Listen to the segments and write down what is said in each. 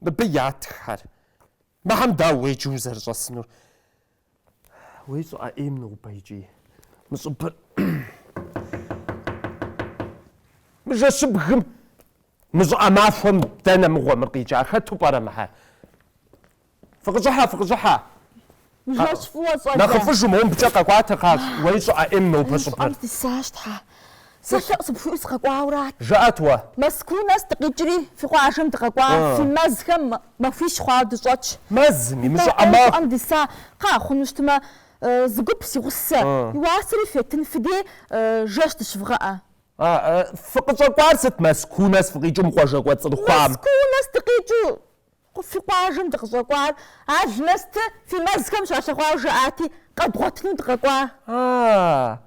Мыбы ятххэр. Мыхьэм дауэ уеджи узэрыщӏэсынур? Уэи щӏыӏэ ӏейм нобэ икӏи. Мы щӏыбыр. Мы жэщыбгым. Мы щӏыӏэ махуэм дэнэ мыгъуэ мыр къикӏа? Хэту пӏэрэ мыхьэр? Фыкъыщӏыхьэ, фыкъыщӏыхьэ. Жэщ фӏыуэ щӏалэ. Нэхъыфӏыжу мыбыкӏэ къэкӏуатэ, хьэщӏэ, уэи щӏыӏэ ӏейм нобэ щӏыбыр. Щӏыӏэм сисащ, Тхьэ, сэ лъэӏу сыпхуиӏэу сыкъэкӏуаурат. Жыӏэт уэ. Мэзкуу нэс дыкъикӏри, фи къуажэм дыкъэкӏуа, фи мэзхэм махуищ хъуауэ дыщӏэтщ. Мэзыми, мы щӏыӏэ махуэм? Атӏэ, щӏыӏэм диса, кхъыӏэ, хъуну щытмэ, зыгуп, си гъусэ, и уасэри фетын фи дей, жэщ дыщывгъэӏэ. Фыкъыщӏэкӏуар сыт, Мэзкуу нэс фыкъикӏыу мы къуажэ кӏуэцӏрыхуам? Мэзкуу нэс дыкъикӏыу Фи къуажэм дыкъыщӏэкӏуар алмэсты, фи мэзхэм щалъэгъуауэ жаӏати, къэдгъуэтыну дыкъэкӏуа? А-а-а!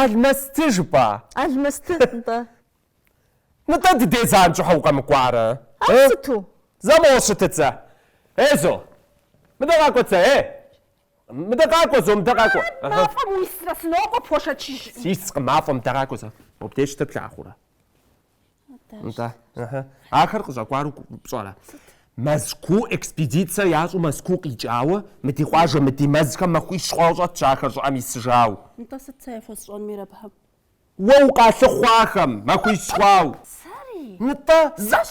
Алмэсты жыпӏа? Алмэсты, нтӏэ. Нтӏэ, ди дей занщӏэу щхьэ укъэмыкӏуарэ? Ар сыту? Зэ моуэ щытыцэ. Ей, зо, мыдэ къакӏуэцэ, ей! Мыдэ къакӏуэ, зо, мыдэ къакӏуэ. Мафӏэм уисрэ, сынокӏуэ, пхуэшэчыжым. Сискъым мафӏэм, мыдэ къакӏуэ, зэ. Мобдеж щытыр плъагъурэ? Ахэр къыщӏэкӏуару пщӏэрэ? Мэзкуу экспедицэ ящӏу Мэзкуу къикӏауэ, мы ди къуажэ, мы ди мэзхэм махуищ хъуауэ щӏэтщ ахэр щӏыӏэм исыжау. Нтӏэ сыт сэ яхуэсщӏэн мир абыхэм? Уэ укъалъыхъуахэм махуищ хъуау. Сэри? Нтӏэ, зэщ!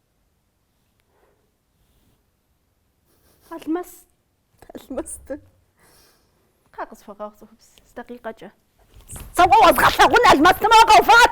Алмаз. Алмаз. Ка къысфэгъэгъ цӏыхубз. Дакъикъэкӏэ. Цэуэ уэзгъэлъэгъун алмаз нэмэ къэуфат.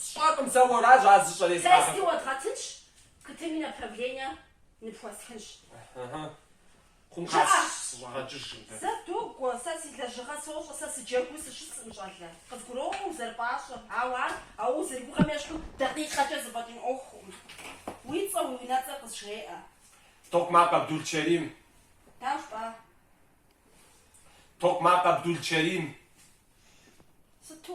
Сщӏэркъым сэ уэращ ар зыщӏэресхьар. Тести уэдгъэтынщ, КТ-ми направление ныпхуэстхынщ. Ыхьы. Хъунщ, кхъа, сыщӏэгъэкӏыж къудей. Зэ догуэ, сэ си лэжьыгъэ сощӏэ, сэ сыджэгуу сыщысӏым щӏалэ. Къызгуроӏуэ узэрыпӏащӏэм, ауэ ар а узэрыгугъэм ещхьу дакъикъэкӏэ зэфӏэкӏын ӏуэхукъым. Уи цӏэ, уи унэцӏэр къызжеӏэ. Токъмакъ Абдулчэрим. Дауэ жыпӏа? Токъмакъ Абдулчэрим. Сыту?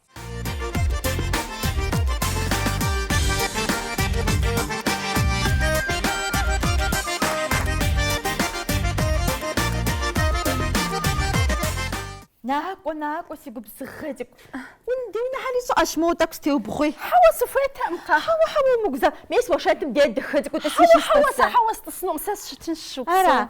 Накӏуэ, накӏуэ, си губзыгъэ цӏыкӏу. Унди унэхьэри щыӏэщ, моуэ тӏэкӏу стеубгъуи. Хьэуэ, сыхуейтэкъым, кхъа. Хьэуэ, хьэуэ, умыгузавэ. Мес а шэнтым дей дахэ цӏыкӏуу тӏыси щыс, тӏыс. Хьэуэ, сэ хьэуэ сытӏысынукъым, сэ сыщытынщ щыгу сэ. Ара?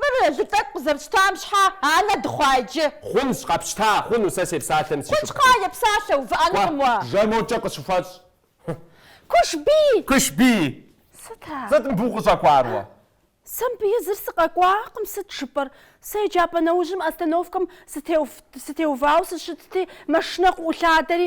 Мыр лы тӏэкӏу къызэрытщтам щхьэ анэ дыхъуа иджы? Хъунщ, къэпщта, хъуну, сэ сепсалъэм си шыпхъум. Хъунщ, кхъыӏэ, епсалъэ, увыӏэнукъым уэ. Кӏуэ, жэ, моукӏэ къыщыхуэщӏ. Кушбий! Кушбий! Сыт а? Сыт мыбы укъыщӏэкӏуар уэ? Сэ мыбы езыр сыкъэкӏуакъым, сыт жыпӏэр. Сэ еджапӏэ нэужьым остановкэм сытеувауэ сыщытти, машинэ къыӏулъадэри,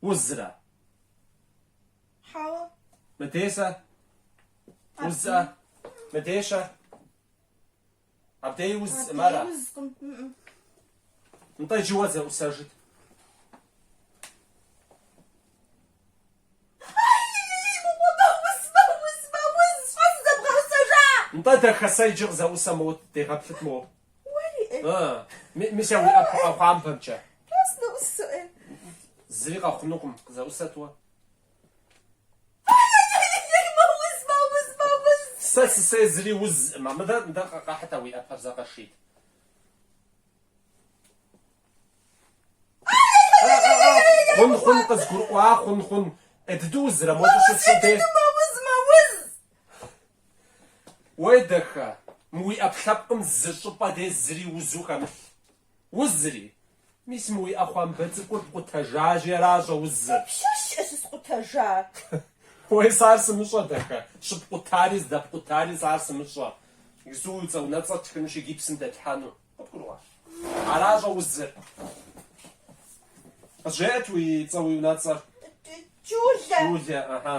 узрэ. Хьэуэ. Мыдейщэ. Узыӏэ. Мыдейщэ. Абдеи узыӏым ара? Абдеи узкъым. Нтӏэ иджы уэ зэӏусэжыт. Нтӏэ дахэ сэ иджы къызэӏусэ моут, дегъэплъыт моуэ. Мис а уи ӏэпхъуампэмкӏэ. Зыри къэхъунукъым, къызэӏусэт уэ. Сэ сысей зыри узыӏымэ. Мыдэ, мыдэ, къэхьыт а уи ӏэпэр зэ къэшийт. Хъун, хъун, къызгурыӏуа, хъун, хъун. Э, дыдэу узрэ, модэ щысщӏын де. Уей, дахэ, мы уи ӏэпкълъэпкъым зы щӏыпӏэ дей зыри узу хэмылъ. Узыри? Мис мы уи ӏэхъуамбэ цӏыкӏур пкъутэжащи аращӏэ узыр. Пщащэкӏэ щыскъутэжар. Уей, сэ ар сымыщӏэ, дахэ, щыпкъутари, здэпкъутари, сэ ар сымыщӏэ. Гзу уи цӏэ унэцӏэр тхынущи гипсым дэтлъхьэну. Къыбгурыӏуа? Аращӏэ узыр. Къызжеӏэт уи цӏэ уи унэцӏэр. Джулэ. Джулэ, ыхьы.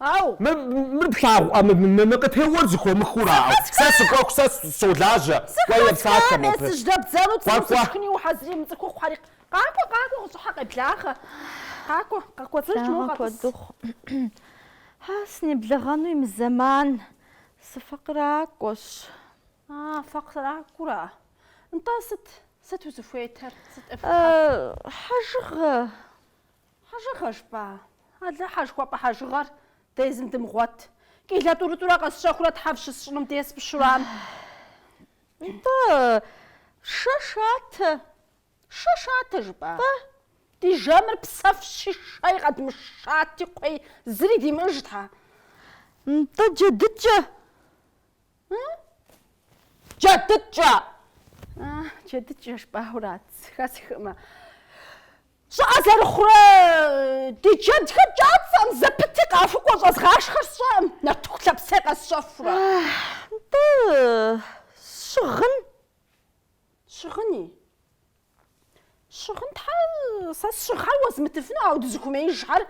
Ау! Мыр плъагъу, мы къытеуэр зы хуэмыхура, сэ сыкӏуэху, сэ солажьэ, кӏуэ ефсакъэ мобы. Цӏыху къэсдэбдзэну цӏыхум сышхыни ухьэзырий, мы цӏыхухъу хьэри. Къакӏуэ, къакӏуэ, къыщӏыхьэ къеблагъэ. Къакӏуэ, къэкӏуэцӏыж моуэ къэтӏыс. Хьэ, сынеблэгъэну и мызэман, сыфэкъыракӏуэщ. А, фэкъыракӏуэра? Нтӏэ, сыт, сыт узыхуейтэр, сыт ӏыфхьэр? Хьэжыгъэ. Хьэжыгъэ жыпӏа, Алыхьэ жыхуэпӏэ хьэжыгъэр дэ езым дымыгъуэт. Килэ тӏурытӏурэ къэсщэхурэ тхьэв щысщӏыным дей спщурам. Нтӏэ, шэ шатэ, шэ шатэ жыпӏа? Тӏэ, ди жэмыр псэфщи, шэи къэдмышати, кхъуей зыри димыӏыж тхьэ. Нтӏэ, джэдыкӏэ, Джэдыкӏэ! Джэдыкӏэ жыпӏауэ арат, хэсхыӏымэ. Щӏыӏэ зэрыхъурэ ди джэдхэр кӏэцӏэӏым зэпыти къахукӏуэ щӏэзгъашхэр сщӏэӏым, нартыху лъэпсей къэсщэхурэ. Нтӏэ, щыгъын. Щыгъыни? Щыгъын тхьэ сэ сщыгъхэр уэзмытыфыну, ауэ дызыхуэмеижхэр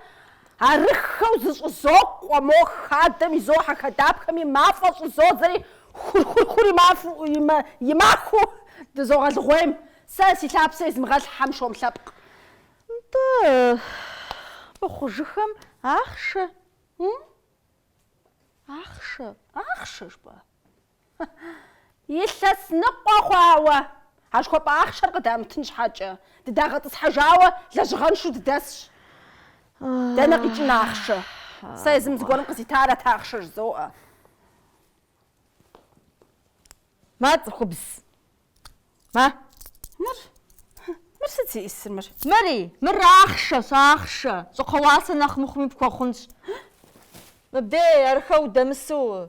арыххэу зыщӏызокъуэ, мо хадэм изохьэ хадапхэми, мафӏэ щӏызодзэри, хур-хур-хур имахыу дызогъэлыгъуейм, сэ си лъапсэ измыгъэлъ хьэмшом лъэпкъ. Нтӏэ, мыхъужыххэм ахъшэ, ахъшэ. Ахъшэ жыпӏа? Илъэс ныкъуэ хъуауэ, улахуэпщӏэ ахъшэр къыдамытын щхьэкӏэ, дыдагъэтӏысхьэжауэ лэжьыгъэншэу дыдэсщ. Дэнэ къикӏын ахъшэ? Сэ езым зыгуэрым къызитарэт ахъшэ жызоӏэ. Мэ цӏыхубз. Мэ. Мыр? Мыр сыт зиӏисыр мыр? Мыри? Мыр ахъшэщ, ахъшэ. Щӏыхуэ уасэ нэхъ мыхъуми пхуэхъунщ. Мыбдей, ауэ удэмысу.